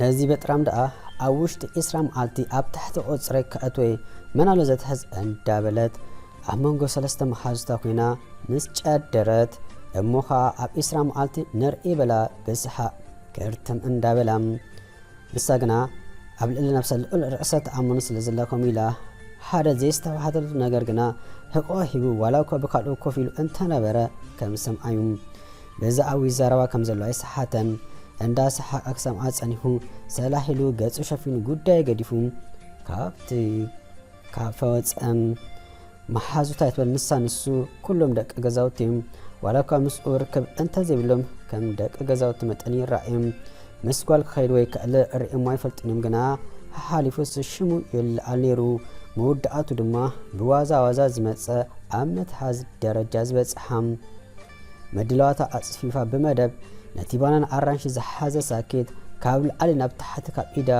ነዚ በጥራም ደኣ ኣብ ውሽጢ ዕስራ መዓልቲ ኣብ ታሕቲ ቁጽረይ ከእትወ'የ መን ኣሎ ዘትሕዝ እንዳበለት ኣብ መንጎ ሰለስተ መሓዙታ ኮይና ምስ ጨደረት እሞ ከኣ ኣብ ዕስራ መዓልቲ ንርኢ በላ ብስሓቕ ክርትም እንዳበላ ንሳ ግና ኣብ ልዕሊ ነብሳ ልዑል ርእሰ ተኣማንነት ስለ ዘላ ከምኡ ኢላ ሓደ ዘየስተባሃለሉ ነገር ግና ህቆ ሂቡ ዋላ እኳ ብካልኡ ኮፍ ኢሉ እንተነበረ ከም ዝሰምዓ'ዩ ነዚ ኣዊ ዘረባ ከም ዘሎ ኣይሰሓተን እንዳ ሰሓቀ ክሰምዓ ጸኒሑ ሰላሕ ኢሉ ገጹ ሸፊኑ ጉዳዩ ገዲፉ ካብቲ ካብ ፈወጸም መሓዙት ኣይትበል ንሳ ንሱ ኩሎም ደቂ ገዛውቲ እዮም ዋላ እኳ ምስኡ ርክብ እንተዘይብሎም ከም ደቂ ገዛውቲ መጠን ይረኣዮም ምስ ጓል ክኸይድ ወይ ክዕለ ርእሞ ኣይፈልጡን እዮም ግና ሓሓሊፉስ ሽሙ ይለዓል ነይሩ መወዳእቱ ድማ ብዋዛ ዋዛ ዝመጸ ኣብ መትሓዝ ደረጃ ዝበጽሓ ምድላዋታ ኣጽፊፋ ብመደብ ነቲ ባናን ኣራንሺ ዝሓዘ ሳኬት ካብ ላዕሊ ናብ ታሕቲ ካብ ኢዳ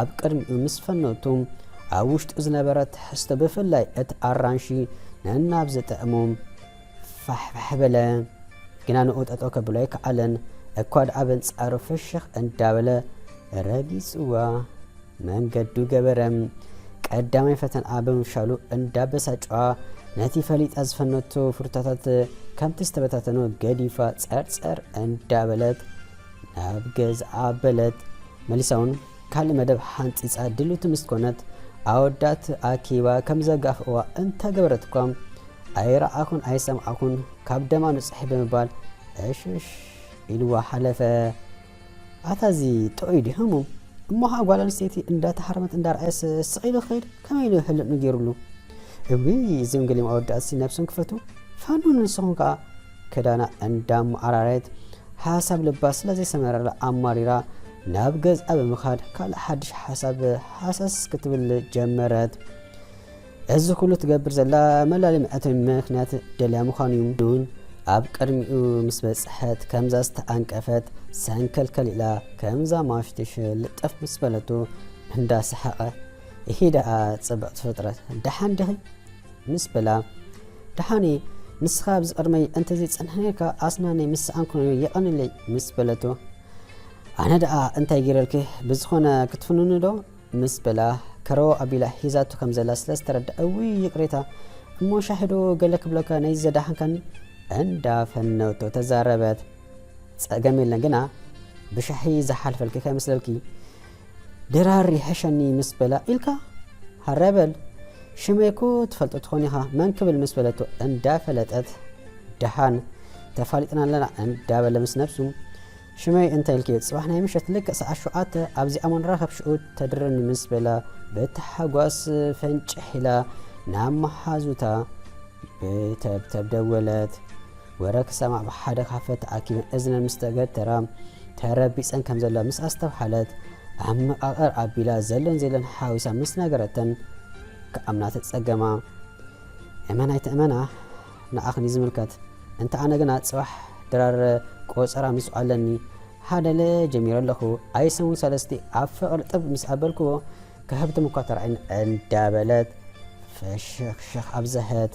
ኣብ ቅድሚኡ ምስ ፈነቱ ኣብ ውሽጡ ዝነበረ ትሕዝቶ ብፍላይ እቲ ኣራንሺ ነናብ ዝጥዕሙ ፋሕፋሕ በለ። ግና ንኡ ጠጠው ከብሎ ኣይከኣለን። እኳ ደኣ በንጻሩ ፍሽኽ እንዳበለ ረጊጽዋ። መንገዱ ገበረ። ቀዳማይ ፈተንኣ ብምፍሻሉ እንዳበሳጨዋ ነቲ ፈሊጣ ዝፈነቶ ፍሩታታት ከምቲ ዝተበታተኖ ገዲፋ ጸርጸር እንዳበለት ናብ ገዝኣ በለት። መሊሳ እውን ካልእ መደብ ሓንጺጻ ድልውቲ ምስ ኮነት ኣወዳት ኣኪባ ከም ዘጋፍእዋ እንተገበረት እኳ ኣይረኣኹን ኣይሰምዓኹን ካብ ደማ ንጹሒ ብምባል ዕሽሽ ኢልዋ ሓለፈ። ኣታ እዚ ጥዑይ ድዩ ህሙም? እሞ ከኣ ጓል ኣንስተይቲ እንዳተሃረመት እንዳርኣየስ ስቕ ኢሉ ክኸይድ ከመይ ኢሉ ህልንኡ ገይሩሉ? እውይ እዞም ገሊኦም ኣወዳትሲ ነብሶም ክፈትው ፋኑ ንስኹም ከኣ ክዳና እንዳመዓራረየት ሓሳብ ልባ ስለ ዘይሰመረላ ኣማሪራ ናብ ገዝኣ ብምኻድ ካልእ ሓድሽ ሓሳብ ሃሰስ ክትብል ጀመረት። እዚ ኩሉ ትገብር ዘላ መላሊ መዕተቢ ምክንያት ደልያ ምዃኑ ዩ። ኑን ኣብ ቅድሚኡ ምስ በጽሐት ከምዛ ዝተኣንቀፈት ሰንከልከል ኢላ ከምዛ ማሽትሽ ልጥፍ ምስ በለቶ እንዳ ሰሓቐ ኢሂ ደኣ ጽብቕቲ ፍጥረት ደሓን ዲኺ? ምስ በላ ደሓን ኢየ ንስኻ ኣብዚ ቅድመይ እንተዘይ ጸንሐ ነርካ ኣስናነይ ምስ ሰኣንኩ ነይሩ የቐንለይ ምስ በለቶ ኣነ ደኣ እንታይ ጌረልኪ ብዝኾነ ክትፍንኑ ዶ ምስ በላ ከረው ኣቢላ ሒዛቶ ከም ዘላ ስለ ዝተረዳ እውይ ይቅሬታ እሞ ሻሂ ዶ ገለ ክብለካ ነዚ ዘዳሓንካኒ እንዳ ፈነውቶ ተዛረበት ጸገም የለን ግና ብሻሂ ዝሓልፈልኪ ከይመስለልኪ ድራር ይሕሸኒ ምስ በላ ኢልካ ሃረበል ሽመይ እኮ ትፈልጦ ትኾን ኢኻ መን ክብል ምስ በለቶ እንዳ ፈለጠት ደሓን ተፋሊጥና ኣለና እንዳበለ ምስ ነብሱ ሽመይ እንታይ ኢልኪ? ጽባሕ ናይ ምሸት ልክዕ ሰዓት ሸውዓተ ኣብዚኣ እሞ ንራኸብ ሽኡ ተድርኒ ምስ በላ ብታሕጓስ ፈንጭሕ ኢላ ናብ መሓዙታ ብተብተብ ደወለት። ወረ ክሰማዕ ብሓደ ካፈ ተኣኪበን እዝነን ምስ ተገተራ ተረቢጸን ከም ዘለዋ ምስ ኣስተብሓለት ኣብ መቓቕር ኣቢላ ዘሎን ዘየሎን ሓዊሳ ምስ ነገረተን ክኣምና ተጸገማ። እመናይ ትእመና ንዓኽን እዩ ዝምልከት እንተ ኣነ ግና ጽባሕ ድራር ቆጸራ ምስኡ ኣለኒ ሃደለ ጀሚረ ኣለኹ ኣይ ሰሙን ሰለስቲ ኣብ ፍቅሪ ጥብ ምስ ኣበልክዎ ክህብትም እኳ ተራዒን እንዳበለት ፈሸኽሸኽ ኣብዘሀት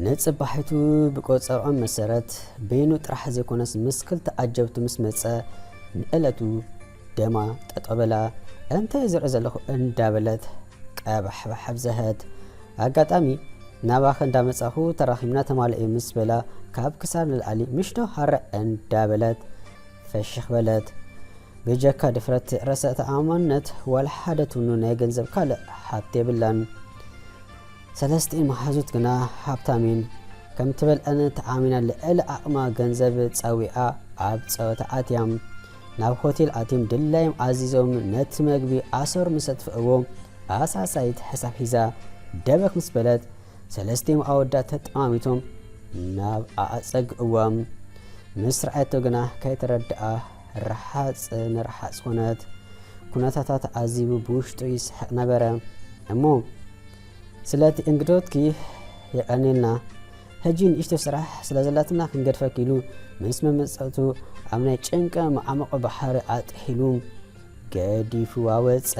ንጽባሒቱ ብቆጸርዖም መሰረት በይኑ ጥራሕ ዘይኮነስ ምስ ክልተ ኣጀብቱ ምስ መጸ ንዕለቱ ደማ ጠጠበላ እንታይ ዝርኢ ዘለኹ እንዳበለት ቀባሕባሕ ኣብዘሀት ኣጋጣሚ ናባኺ እንዳመጻኹ ተራኺብና ተማልእ'ዩ ምስ በላ ካብ ክሳድ ንላዕሊ ምሽዶ ሃርዕ እንዳበለት ፈሽኽ በለት። ብጀካ ድፍረት ርእሰ ተኣማምነት ዋላ ሓደ ትምኑ ናይ ገንዘብ ካልእ ሃብቲ የብላን። ሰለስቲኤን መሓዙት ግና ሃብታም'የን። ከምትበልዐን ተኣሚና ልዕሊ ዓቕማ ገንዘብ ጸዊዓ ኣብ ጸወታ ኣትያ። ናብ ሆቴል ኣትዮም ድላዮም ኣዚዞም ነቲ መግቢ ኣሰር ምስ ኣጥፍእዎ ኣሳሳይት ሕሳብ ሒዛ ደበክ ምስ በለት ሰለስቲኦም ኣወዳት ተጠማሚቶም ናብ ኣጸግእዎም ምስ ረኣየቶ ግና ከይተረድኣ ረሓጽ ንረሓጽ ኮነት። ኩነታታት ኣዚቡ ብውሽጡ ይስሕቕ ነበረ እሞ ስለቲ እንግዶትኪ የቀኔልና ሕጂ ንእሽቶ ስራሕ ስለ ዘላትና ክንገድፈኪ ኢሉ ምስ መመጸእቱ ኣብ ናይ ጭንቀ መዓሙቕ ባሕሪ ኣጥሒሉ ገዲፍዋ ወጸ።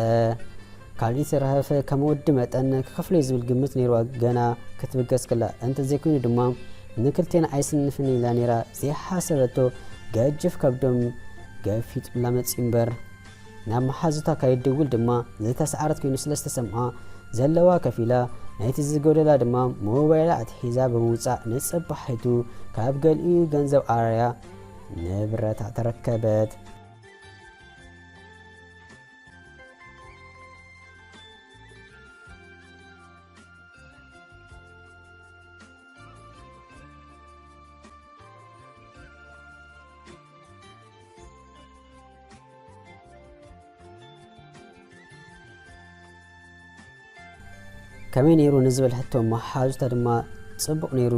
ካልእ ተረፈ ከም ወዲ መጠን ክኸፍሎ'ዩ ዝብል ግምት ነይርዋ ገና ክትብገስ ከላ፣ እንተዘይኮይኑ ድማ ንክልቴና ኣይስንፍን ኢላ ነይራ ዘይሓሰበቶ ገጅፍ ከብዶም ገፊጡላ መጺኡ'ምበር። ናብ መሓዙታ ከይትድውል ድማ ዝተስዓረት ኮይኑ ስለ ዝተሰምዓ፣ ዘለዋ ከፊላ ናይቲ ዝጎደላ ድማ ሞባይላ ኣትሒዛ ብምውጻእ ንጽባሒቱ ካብ ገሊኡ ገንዘብ ኣራያ ንብረታ ተረከበት። ከመይ ነይሩ ንዝብል ሕቶ እሞ ሓዙተ ድማ ጽቡቕ ነይሩ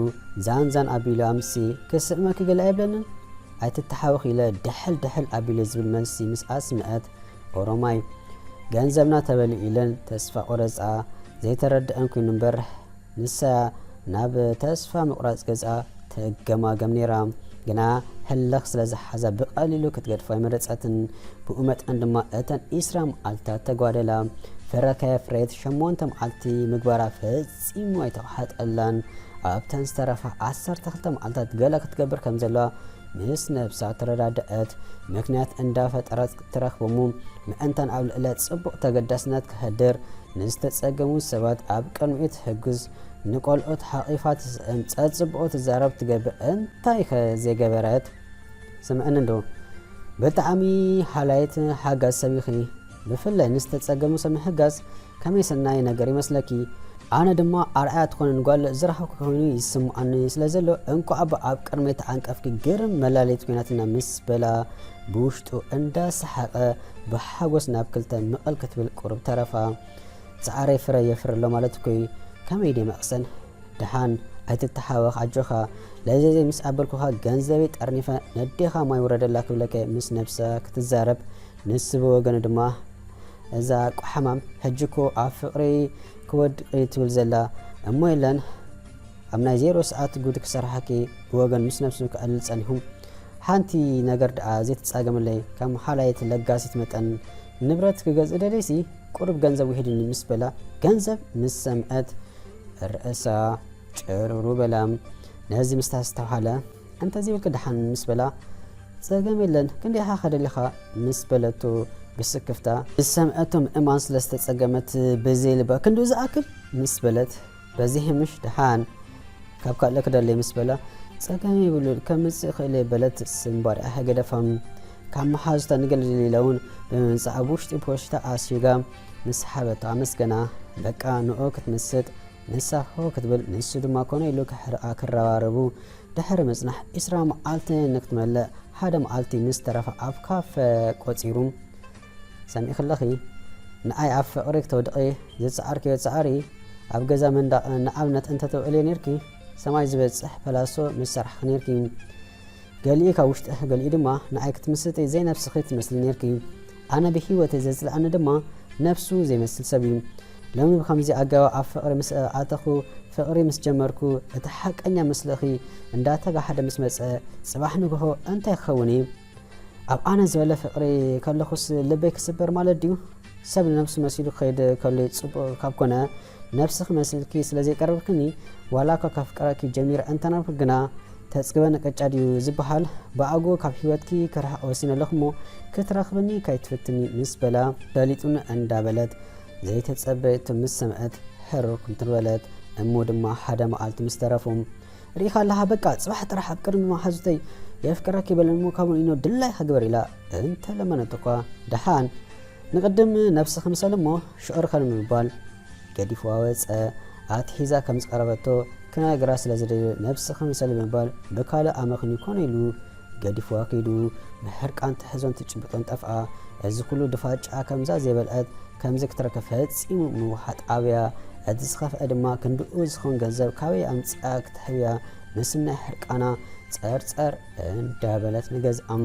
ዛን ዛን ኣቢሉ ኣምሲ ክስዕመኪ ገለ ኣይብለንን ኣይትተሓወኽ ኢለ ድሕል ድሕል ኣቢለ ዝብል መልሲ ምስ ኣስምዐት ኦሮማይ ገንዘብና ተበሊ ኢለን ተስፋ ቆረጻ ዘይተረድአን ኮይኑ እምበር ንሳ ናብ ተስፋ ምቕራጽ ገጻ ትገማገም ነይራ፣ ግና ህልኽ ስለ ዝሓዛ ብቐሊሉ ክትገድፎ ኣይመረጸትን። ብኡ መጠን ድማ እተን ዕስራ መዓልትታት ተጓደላ። ፍረ ከየፍረየት ሸሞንተ መዓልቲ ምግባራ ፈጺሙ ኣይተዋሓጠላን። ኣብተን ዝተረፋ ዓሰርተ ክልተ መዓልትታት ገለ ክትገብር ከም ዘለዋ ምስ ነብሳ ተረዳደኣት። ምክንያት እንዳፈጠረት ትረኽብሙ ምእንታን ኣብ ልዕለ ጽቡቕ ተገዳስነት ከህድር፣ ንዝተጸገሙ ሰባት ኣብ ቅድሚኡ ትሕግዝ፣ ንቆልዑት ሓቒፋ ትስእን፣ ጸጽቡቑ ትዛረብ ትገብእ እንታይከ ዘይገበረት? ስምዕኒ እንዶ ብጣዕሚ ሓላይት ሓጋዝ ሰብ ኢኺ። ብፍላይ ንዝተጸገሙ ሰብ ምሕጋዝ ከመይ ሰናይ ነገር ይመስለኪ ኣነ ድማ ኣርኣያ ትኮንን ጓል ዝረከብኩ ኮይኑ ይስምኣኒ ስለ ዘሎ እንቋዕባ ኣብ ቅድመይ ተዓንቀፍኪ ግርም መላለይት ኮይናትና ምስ በላ ብውሽጡ እንዳ ሰሓቀ ብሓጎስ ናብ ክልተ ምቅል ክትብል ቁሩብ ተረፋ ጻዕረይ ፍረ የፍሪ ኣሎ ማለት እኮ እዩ ከመይ ደ መቅሰን ደሓን ኣይትተሓወኽ ኣጆኻ ለዘዘይ ምስ ኣበልኩኻ ገንዘበይ ጠርኒፈ ነዴኻ ማይ ውረደላ ክብለከ ምስ ነብሳ ክትዛረብ ንሱ ብወገኑ ድማ እዛ ቁሓማም ሕጂ እኮ ኣብ ፍቅሪ ክወድቅ ትብል ዘላ እሞ የለን ኣብ ናይ ዜሮ ሰዓት ጉድ ክሰርሓኪ ብወገን ምስ ነብሱ ክዕልል ጸኒሑ ሓንቲ ነገር ደኣ ዘይትጻገምለይ ካብ መሓላይት ለጋሲት መጠን ንብረት ክገዝእ ደለይሲ ቁሩብ ገንዘብ ውሒድኒ ምስ በላ ገንዘብ ምስ ሰምዐት ርእሳ ጭርሩ በላ ነዚ ምስታስተውሃለ እንተዘይብልኪ ደሓን ምስ በላ ጸገም የለን ክንደይ ኢኻ ከደሊኻ ምስ በለቶ ብስክፍታ ዝሰምዐቶም እማን ስለ ዝተጸገመት ብዘይ ልባ ክንድኡ ዝኣክል ምስ በለት በዚ ምሽ ደሓን ካብ ካልእ ክደለይ ምስ በላ ጸገም የብሉን ከምጽእ ክእለ በለት ስምባሪኣ ህገደፋም ካብ መሓዙታ ንገልድሊላ እውን ብምምጻእ ኣብ ውሽጢ ፖሽታ ኣሲጋ ምስ ሓበታ ኣመስገና በቃ ንኡ ክትምስጥ ንሳ ሑው ክትብል ንሱ ድማ ኮነ ኢሉ ክሕርቃ ክረባረቡ ድሕሪ ምጽናሕ ዕስራ መዓልቲ ንክትመልእ ሓደ መዓልቲ ምስ ተረፋ ኣብ ካፈ ቆጺሩ ሰሚዕክለኺ ንኣይ ኣብ ፍቅሪ ክተውድቂ ዝጸዓርክዮ ጻዕሪ ኣብ ገዛ መንዳቅ ንኣብነት እንተተውዕልዮ ኔርኪ ሰማይ ዝበጽሕ ፓላሶ ምሰራሕኪ ኔርኪ ገሊኡ ካብ ውሽጢ ገሊኡ ድማ ንዓይ ክትምስጢ ዘይነብስኺ ትመስሊ ኔርኪ ኣነ ብሂወተይ ዘጽልኣኒ ድማ ነብሱ ዘይመስል ሰብ እዩ ሎሚ ብከምዚ ኣገባብ ኣብ ፍቅሪ ምስ ኣተኹ ፍቅሪ ምስ ጀመርኩ እቲ ሓቀኛ ምስልኺ እንዳተጋሓደ ምስ መጸ ጽባሕ ንግሆ እንታይ ክኸውን እዩ ኣብ ኣነ ዝበለ ፍቅሪ ከለኹስ ልበይ ክስበር ማለት ድዩ ሰብ ንነብሱ መሲሉ ክኸይድ ከሎይ ጽቡቅ ካብ ኮነ ነብሲ ክመስልኪ ስለ ዘይቀረብክኒ ዋላኳ ከፍቅረኪ ጀሚረ እንተነበርኩ ግና ተጽግበ ንቅጫ ድዩ ዝብሃል ብኣግኡ ካብ ሂወትኪ ክርሕቅ ወሲነ ኣለኩ እሞ ክትረክብኒ ከይትፍትኒ ምስ በላ በሊጹኒ እንዳ በለት ዘይተጸበየቶ ምስ ሰምዐት ሕርር ኩምትር በለት እሞ ድማ ሓደ መኣልቲ ምስ ተረፉ ርኢካ ኣለካ በቃ ጽባሕ ጥራሕ ኣብ ቅድሚ መሓዙተይ የፍቅረኪ በለን እሞ ካብኡ ንኢኖ ድላይካ ግበር ኢላ እንተለመነቶ እኳ ድሓን ንቕድም ነብሲ ክምሰል እሞ ሽዑ ርከን ምባል ገዲፍዋ ወጸ። ኣቲ ሒዛ ከም ዝቐረበቶ ክነግራ ስለ ዝደልዮ ነብሲ ክምሰል ብምባል ብካልእ ኣመኽንዩ ኮነ ኢሉ ገዲፍዋ ከይዱ። ብሕርቃን ትሕዞን ትጭብጦን ጠፍኣ። እዚ ኩሉ ድፋጭኣ ከምዛ ዘይበልዐት ከምዚ ክትረክብ ፈጺሙ ምውሓጥ ኣብያ። እቲ ዝኸፍኣ ድማ ክንድኡ ዝኸውን ገንዘብ ካበይ ኣምጺኣ ክትሕብያ ምስናይ ሕርቃና ጸርጸር እንዳበለት ንገዝኣም።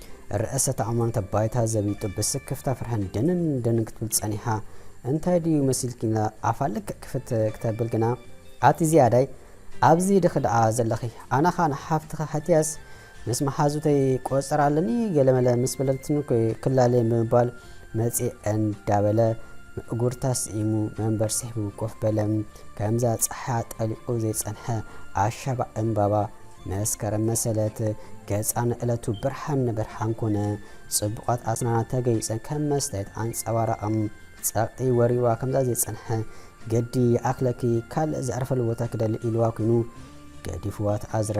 ርእሰ ተኣማንነታ ባይታ ዘቢጡ ብስክፍታ ፍርሕን ድንን ድንን ክትብል ጸኒሓ እንታይ ድዩ መሲልኪ ኢላ ኣፋ ልክዕ ክፍት ክተብል ግና ኣቲ ዝያዳይ ኣብዚ ድኺ ደኣ ዘለኺ ኣነ ኸኣ ንሓፍትኺ ሓትያስ ምስ መሓዙተይ ቆጸር ኣለኒ ገለመለ ምስ በለትኒ ክላለየ ብምባል መጽእ እንዳበለ እጉርታ ስዒሙ መንበር ስሒቡ ኮፍ በለ። ከምዛ ጸሓያ ጠሊቑ ዘይጸንሐ ኣሻባ እምባባ መስከረም መሰለት ገጻ ንእለቱ ብርሃን ንብርሃን ኮነ። ጽቡቓት ኣስናና ተገይጸን ከም መስተየት ኣንጸባራቐም። ጸቕጢ ወሪዋ ከምዛ ዘይጸንሐ ገዲ ይኣክለኪ ካልእ ዘዕርፈሉ ቦታ ክደሊ ኢልዋ ኩይኑ ገዲፍዋ ተኣዝረ።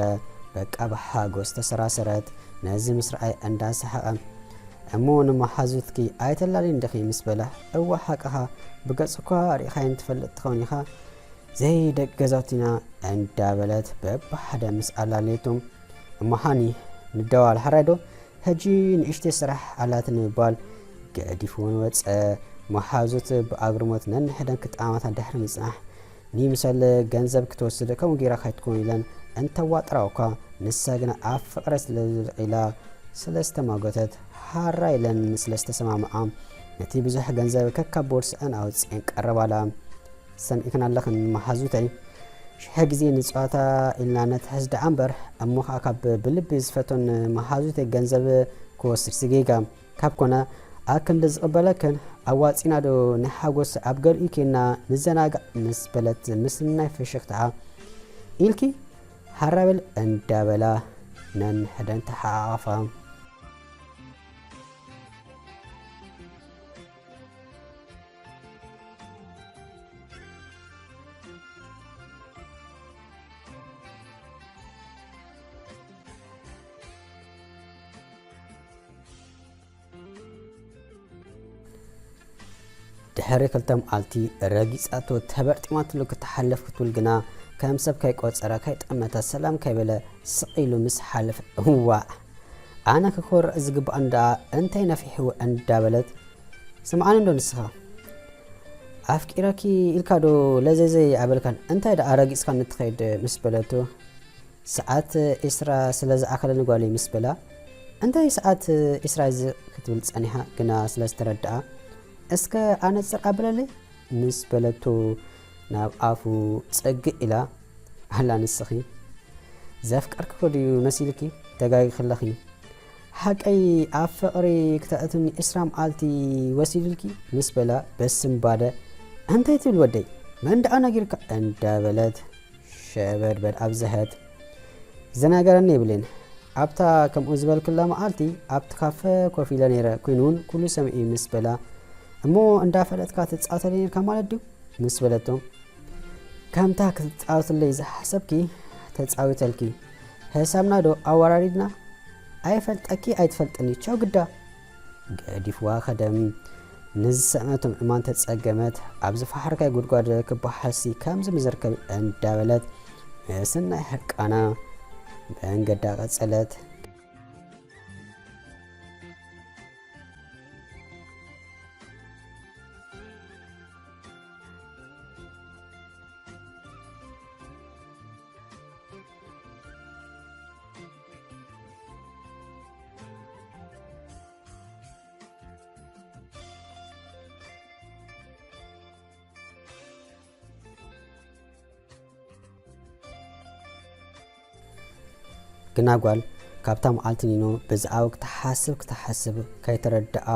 በቃ ብሓጎስ ተሰራሰረት ነዚ ምስ ረኣየ እንዳ ሰሓቐ። እሞ ንመሓዙትኪ ኣይተላልይን ዲኺ ምስ በላ እወ ሓቅኻ ብገጽ እኳ ርኢኻየን ትፈልጥ ትኸውን ኢኻ ዘይ ደቂ ገዛውቲና እንዳበለት በብሓደ ምስ ኣላለየቶም እሞ ሃኒ ንደዋል ሓራይ ዶ ሕጂ ንእሽተይ ስራሕ ኣላትኒ ምባል ገዲፍዎን ወጸ። መሓዙት ብኣግርሞት ነንሕደን ክጠማመታ ድሕሪ ምጽናሕ ንይምሰል ገንዘብ ክትወስድ ከምኡ ጌራ ካይትኮን ኢለን እንተዋጥራኦ እኳ ንሳ ግና ኣብ ፍቕረ ስለዝልቕ ኢላ ስለ ዝተማጎተት ሓራ ኢለን ስለ ዝተሰማምዓ ነቲ ብዙሕ ገንዘብ ከካብ ቦርስዐን ኣውጺኤን ቀረባላ። ሰሚዕክን ኣለኽን መሃዙተይ ሽሐ ግዜ ንጸዋታ ኢልና ነትሕዝ ደኣ እምበር እሞ ከኣ ካብ ብልቢ ዝፈቶን መሃዙተይ ገንዘብ ክወስድሲ ጌጋ ካብ ኮነ ኣክንዲ ዝቕበለክን ኣዋጺና ዶ ንሓጎስ ኣብ ገሊኡ ኬና ንዘናጋዕ ምስ በለት ምስናይ ፍሽኽታኣ ኢልኪ ሃራበል እንዳበላ ነንሕደን ተሓዓቓፋ ድሕሪ ክልተ መዓልቲ ረጊጻቶ ተበርጢማትሉ ክትሓልፍ ክትብል ግና ከም ሰብ ከይቆጸረ ከይጠመተ ሰላም ከይበለ ስቕ ኢሉ ምስ ሓለፈ እዋእ ኣነ ክኮርዕ ዝግብኣኒ ደኣ እንታይ ነፊሑ እንዳበለት ስምዓኒ እንዶ ንስካ ኣፍቂረኪ ኢልካ ዶ ለዘዘይ ኣይበልካን እንታይ ደኣ ረጊጽካኒ ትከይድ ምስ በለቶ ሰዓት ዒስራ ስለ ዝኣከለኒ ጓለይ ምስ በላ እንታይ ሰዓት ዒስራ ክትብል ጸኒሓ ግና ስለ ዝተረድኣ እስከ ኣነጽር ኣብለለይ ምስ በለቶ ናብ ኣፉ ጸግዕ ኢላ ኣላ ንስኺ ዘፍቀርክኺ ድዩ መሲልኪ ተጋጊኺለኺ ሓቀይ ኣብ ፍቕሪ ክተእትኒ ዕስራ መዓልቲ ወሲዱልኪ ምስ በላ በስምባደ እንታይ ትብል ወደይ መን ደኣ ነጊርካ እንዳበለት ሸበድበድ ኣብዘሀት ዘናገረኒ የብለይን ኣብታ ከምኡ ዝበልክላ መዓልቲ ኣብቲ ካፈ ኮፍ ኢለ ነይረ ኮይኑ እውን ኩሉ ሰምዒ ምስ በላ እሞ እንዳፈለጥካ ትጻወተለይ ነርካ ማለት ድዩ ምስ በለቶ ከምታ ክትጻወትለይ ዝሓሰብኪ ተጻዊተልኪ ሕሳብና ዶ ኣወራሪድና ኣይፈልጠኪ ኣይትፈልጥኒ ቸው ግዳ ገዲፍዋ ከደም ንዝሰዕመቶም ዕማን ተጸገመት ኣብ ዝፈሓርካይ ጉድጓድ ክበሓሲ ከምዚ ምዝርከብ እንዳበለት ምስናይ ሕርቃና መንገዳ ቀጸለት ግና ጓል ካብታ መዓልቲ ኒኖ ብዛዕባ ክትሓስብ ክትሓስብ ከይተረድኣ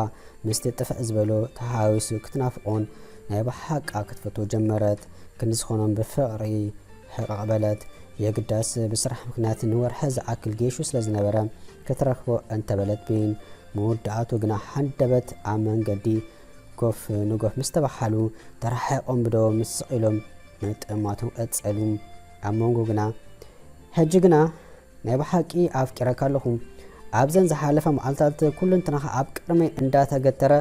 ምስቲ ጥፍእ ዝበሎ ተሓዋዊሱ ክትናፍቖን ናይ ብሓቃ ክትፈትዎ ጀመረት። ክንዲ ዝኾኖም ብፍቕሪ ሕቕቕ በለት። የግዳስ ብስራሕ ምኽንያት ንወርሒ ዝኣክል ጌሹ ስለ ዝነበረ ክትረኽቦ እንተ በለት ብይን ምውዳኣቱ ግና ሃንደበት ኣብ መንገዲ ጎፍ ንጎፍ ምስ ተበሃሉ ተራሒቖም ብደዎም ምስ ስቕ ኢሎም ምጥማቶም ቀጸሉ። ኣብ መንጎ ግና ሕጂ ግና ናይ ብሓቂ ኣፍቂረካ ኣለኹ ኣብዘን ዝሓለፋ መዓልትታት ኩሉንትናኻ ኣብ ቅድመይ እንዳተገተረ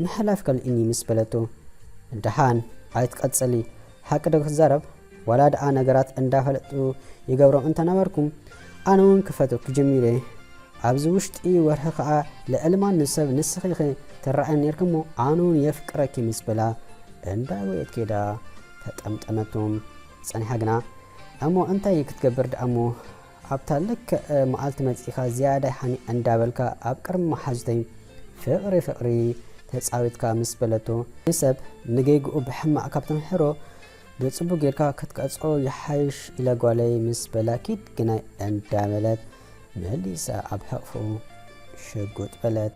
ምሕላፍ ከልእኒ ምስ በለቶ ደሓን ኣይትቀጽሊ ሓቂ ዶ ክትዛረብ ዋላ ድኣ ነገራት እንዳ ፈለጥኩ ይገብሮም እንተ ነበርኩ ኣነ ውን ክፈትወኪ ጀሚረ ኣብዚ ውሽጢ ወርሒ ከኣ ልዕሊ ማንም ሰብ ንስኪ ኢኪ ትረኣየኒ ኔርኪ እሞ ኣነ ውን የፍቅረኪ ምስ በላ እንዳ ጎየት ከይዳ ተጠምጠመቶም ጸኒሓ ግና እሞ እንታይ ክትገብር ድኣ እሞ ኣብታ ልክዕ መዓልቲ መጺእካ ዝያዳ ይሓኒ እንዳበልካ ኣብ ቅድሚ መሓዙተይ ፍቕሪ ፍቕሪ ተጻዊትካ ምስ በለቶ ንሰብ ንጌግኡ ብሕማቕ ካብ ተምሕሮ ብጽቡቕ ጌርካ ክትቀጽዖ ይሓይሽ ኢለ ጓለይ ምስ በላ ኪድ ግናይ እንዳበለት መሊሳ ኣብ ሕቕፍኡ ሽጉጥ በለት።